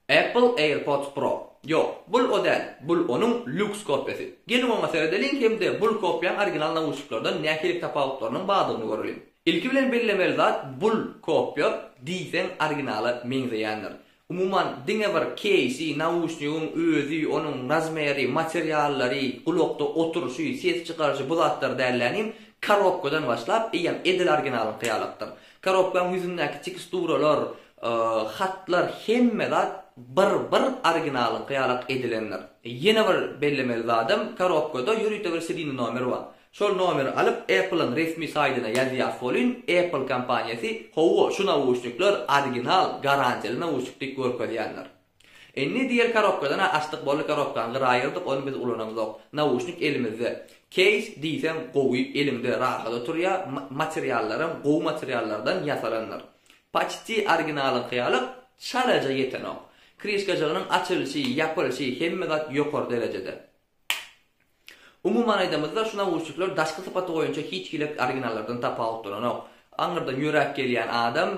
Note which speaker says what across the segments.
Speaker 1: Apple AirPods Pro. Ýok, bul o däl, bul onuň lýuks kopýasy. Geliň oňa seredeliň hem-de bul kopýaň original nauşniklerden nähili tapawutlarynyň bardygyny göreliň. Ilki bilen bellemeli zat bul kopýa diýseň originala meňzeýändir. Umuman diňe bir keýsi, nauşnigiň özi, onuň razmeri, materiallary, gulakda oturyşy, ses çykaryşy bu zatlar dällänim, korobkadan başlap eýýäm edil originalyňky ýalakdyr. Korobkaň ýüzündäki teksturalar, Hatlar hemme zat bir bir originalyňky ýalak edilendir. Ýene bir bellemeli zadym, korobkada ýörite bir sirine nomer bar. Şol nomeri alyp Apple-yň resmi saýdyna ýazýas bolyn, Apple kompaniýasy, Hawa, şu nauşnikler original, garantiýaly nauşnik diýip görkezýändir. Indi diýer karobkadan-a açdyk boldy karobkany gyra aýyrdyk ony biz ulanamzok. Nauşnik elimizde. Keýs diýseň gowy eliňde rahat oturýa materiallaram gowy materiallardan ýasalandyr. Paçti originalyňky ýaly çalaja ýetenok. Krişkajygynyň açylyşy, ýapylyşy hemme zat ýokary derejede. Umuman aýdamyzda, şu nawuşnikler daşky sypaty boýunça hiç hili originallardan tapawutlananok. Aňyrdan ýöräp gelýän adam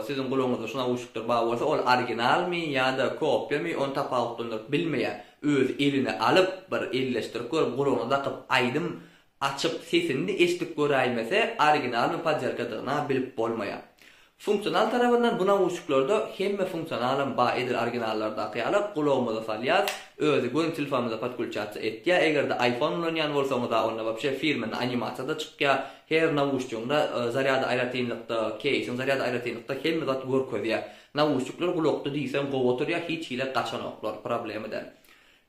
Speaker 1: siziň gulagyňyzda şu nawuşnikler bar bolsa, ol originalmy ýa-da kopiýamy, ony tapawutlandyryp bilmeýär. Özi eline alyp, bir elleşdirip görüp, gulagyna dakyp, aýdym Açyp, sesini-de eşidip göräýmese, originalmy podýarkadygyna bilip bolmaýar. Funksional tarabyndan bu nauşniklarda hemme funksionalam bar edil originallardaky ýaly gulagymyza salýas, özi göni telfamyza podkulçasiýa etýä, eger-de iPhone ulanýan bolsaňyza onda wapşe firmenna animasiýada çykýa, her nauşnigiňde zarýady aýratynlykda, keýsiň zarýady aýratynlykda hemme zat görkezýä. Nauşnikler gulakda diýseň gowy oturýa, hiç hili gaçanoklar, problema däl.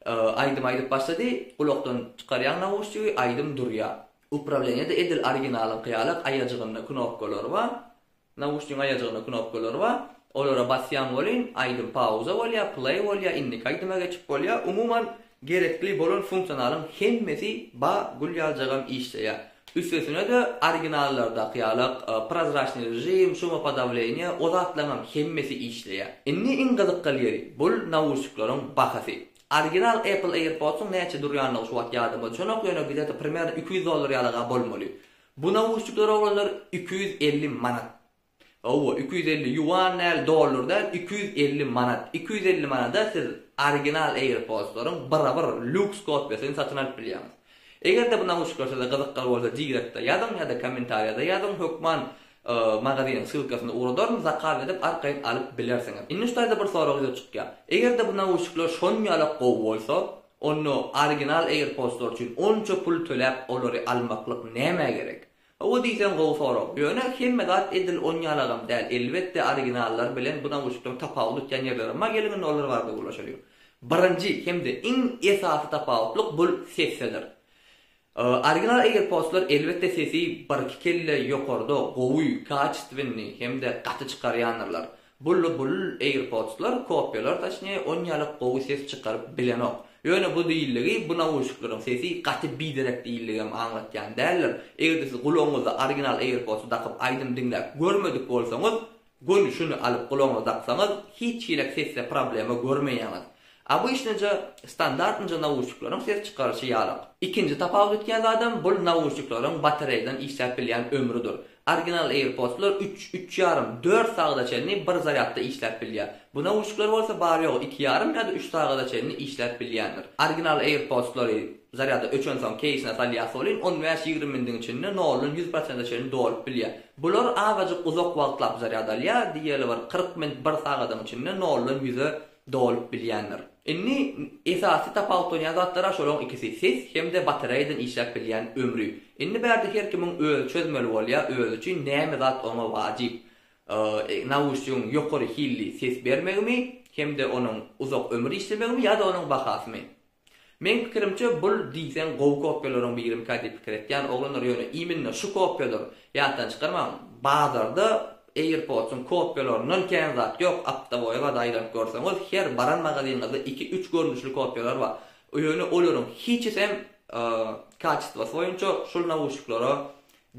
Speaker 1: Aýdym aýdyp başlady, gulakdan çykarýaň nauşnigi, aýdym durýar. Uprawleniýede edil originalyňky ýaly aýajygynda knopkalar bar, nauşnigiň aýajygynda knopkalar bar, olara basýaň welin, aýdym pauza bolýar, play bolýar, indiki aýdyma geçip bolýar, umuman gerekli bolan funksionalyň hemmesi bar, gül ýaljagam işleýär. Üstesine-de, originallardaky ýaly prozraçnyý režim, şumopodawleniýe, o zatlaryňam hemmesi işleýär. Indi iň gyzykgal ýeri, bul nauşnikleriň bahasy. Original Apple AirPods-yň näçe durýandygy şu wagt ýadyma düşenok, ýöne gideti primerno iki ýüz dollar ýaly-a bolmaly. Bu nauşnikleri oglanlar iki ýüz elli manat. Hawa, iki ýüz elli ýuan däl, dollar däl, iki ýüz elli manat. Iki ýüz elli manada siz original AirPods-laryň birabir lýuks kopiýasyny satyn alyp bilýäňiz. Eger-de bu nauşnikler size gyzykly bolsa direktde ýazyň ýa-da kommentariýada ýazyň, hökman magazynyň ssylkasyna ugradaryn, zakaz edip arkaýyn alyp bilersiňiz. Indi şu taýda bir sorag ýüze çykýar. Eger-de bu nauşnikler şonýalak gowy bolsa, onda original AirPods-lar üçin onça pul töläp olary almaklyk nämä gerek? Hawa diýseň gowy sorag. Ýöne hemme zat edil onýalagam däl. Elbetde originallar bilen bu nawuşnikleriň tapawut etýän ýerlerem bar geliň indi olar barada gürleşeliň. Birinji hem-de iň esasy tapawutlyk bul sesdedir. Original AirPodslar elbetde sesi birki kelle ýokarda gowy, kaçestwennyý hem-de gaty çykarýandyrlar. Bully bul AirPods-lar kopýalar taşnä on ýalyk gowy ses çykaryp bilenok. Ýöne bu diýildigi bu nauşnikleriň sesi gaty biderek diýildigem aňlatýan däldir. Eger-de siz gulagyňyzda original AirPods-y dakyp aýdym diňläp görmedik bolsaňyz, göni şuny alyp gulagyňyza daksaňyz hiç hili sesde problema görmeýäňiz. Obyçnyja, standartnyja nauşnikleriň ses çykaryşy ýalak. Ikinji tapawut etýän zadam bul nauşnikleriň batareýadan işläp bilýän ömrüdir. Original AirPods-lar üç, üç ýarym, dört sagada çenli bir zarýadda işläp bilýär. Bu nauşnikler bolsa bary-ýogy iki ýarym ýa-da üç sagada çenli işläp bilýändir. Original AirPods-lary zarýada öçensoň keýsine salýas welin on bäş, ýigrimi minutiň içinde noldan ýüz prosente çenli dolup bilýär. Bular azajyk uzak wagtlap zarýad alýar, diýeli bir kyrk minut, bir sagadyň içinde noldan ýüze dolup bilýändir. Indi esasy tapawutlanýan zatlar-a şolaryň ikisi, ses hem-de batareýadan işläp bilýän ömri. Indi bärde her kimiň özi çözmeli bolýar, özi üçin näme zat oňa wajyp, nauşnigiň ýokary hilli ses bermegimi hem-de onuň uzak ömür işlemegimi ýa-da onuň bahasymy. Meň pikirimçe bul diýseň gowy kopýalaryň birimikä diýip pikir etýän oglanlar ýöne iminne şu kopýalar ýatdan çykarmaň bazarda Airpods'yň kopýalaryndan kän zat ýok aptaboýa gaza aýlanyp görseňiz her baran magazynyňyzda iki üç görnüşli kopýalar bar ýöne olaryň hiçisem kaçestwasy boýunça şul nawuşniklara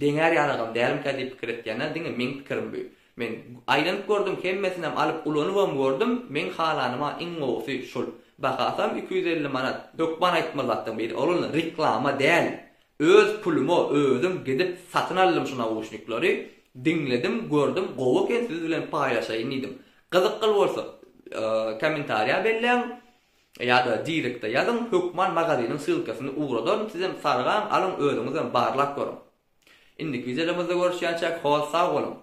Speaker 1: deňär ýalagam dälmikä diýip pikir etýän diňe meň pikirim bu. Men aýlanyp gördüm hemmesinem alyp ulanybam gördüm meň halanyma iň gowusy şul bahasam iki ýüz elli manat hökman aýtma zatdan biri ol reklama däl öz puluma özüm gidip satyn aldym şu nauşnikleri diňledim gördüm gowy eken siz bilen paýlaşaýyn diýdim gyzykly bolsa kommentariýa belläň ýada direkte ýazyň hökman magaziniň ssylkasyny ugradaryn sizem sargaň alyň özüňizem barlap görüň indiki wideolarymyzda görüşýänçäk hol sag boluň.